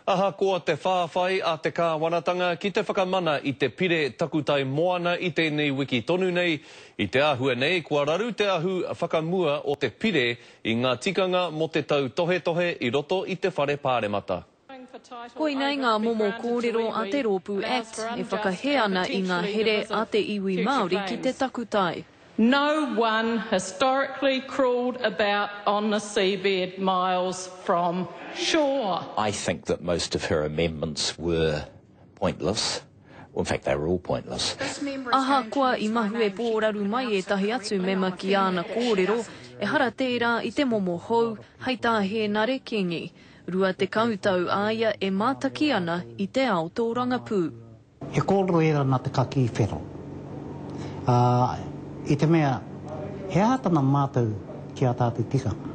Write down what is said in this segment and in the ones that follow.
Ahakoa te whāwhai a te Kāwanatanga ki te whakamana i te Pire Takutai Moana i tēnei wiki tonu nei, i te āhua nei kua raru te ahu whakamua o te Pire i ngā tikanga mō te tautohetohe i roto i te Whare Pāremata. Koinei ngā momo kōrero a te rōpū act e whakahē ana i ngā here a te iwi Māori ki te takutai. No one historically crawled about on the seabed miles from shore. I think that most of her amendments were pointless, well in fact they were all pointless. Ahakoa i mahue pōraru mai ētahi atu mema ki āna kōrero, ehara tērā i te momo hou, hei tā Hēnare Kingi, 20 tau a ia e mātaki ana i te ao tōrangapū. He kōrero ērā nā te kakī whero, ā, i te mea, he aha tana mātau ki ā tātou tikanga?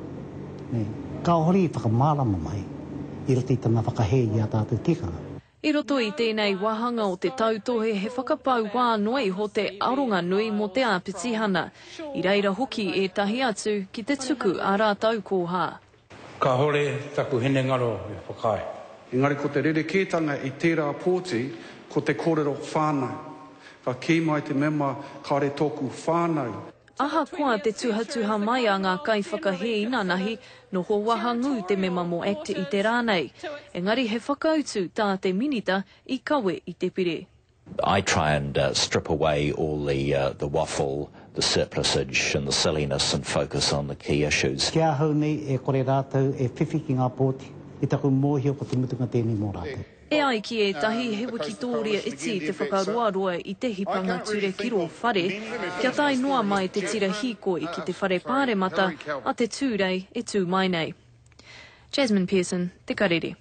Nē, ka hori i whakamārama mai i roto i tana whakahē i ā tātou tikanga. I roto i tēnei wāhanga o te tautohe he whakapau wā noa iho te aronga nui mō te āpitihana. I reira hoki ētahi atu ki te tuku ā rātou kōhā. Kahore taku hinengaro e whakaae. Engari ko te rerekētanga i tērā pōti ko te kōrero whānau. Ka kī mai te mema kāre tōku whānau. Ahakoa te tuhatuha mai a ngā kaiwhakahē inanahi, noho wahangū te mema mō act i te rā nei. Engari he whakautu tā te Minita i kawe i te pire. I try and strip away all the the waffle, the surplusage and the silliness and focus on the key issues. Ki ahau nei e kore rātou e whiwhi ki ngā pōti, i taku mōhio ko te mutunga tēnei mō rātou. E ai ki ētahi, he wikitōria iti te whakaroaroa i te hipanga ture ki rō whare, kia tae noa mai te tira hīkoi ki te whare pāremata a te Tūrei e tū mai nei. Jasmine Pearson, Te Karere.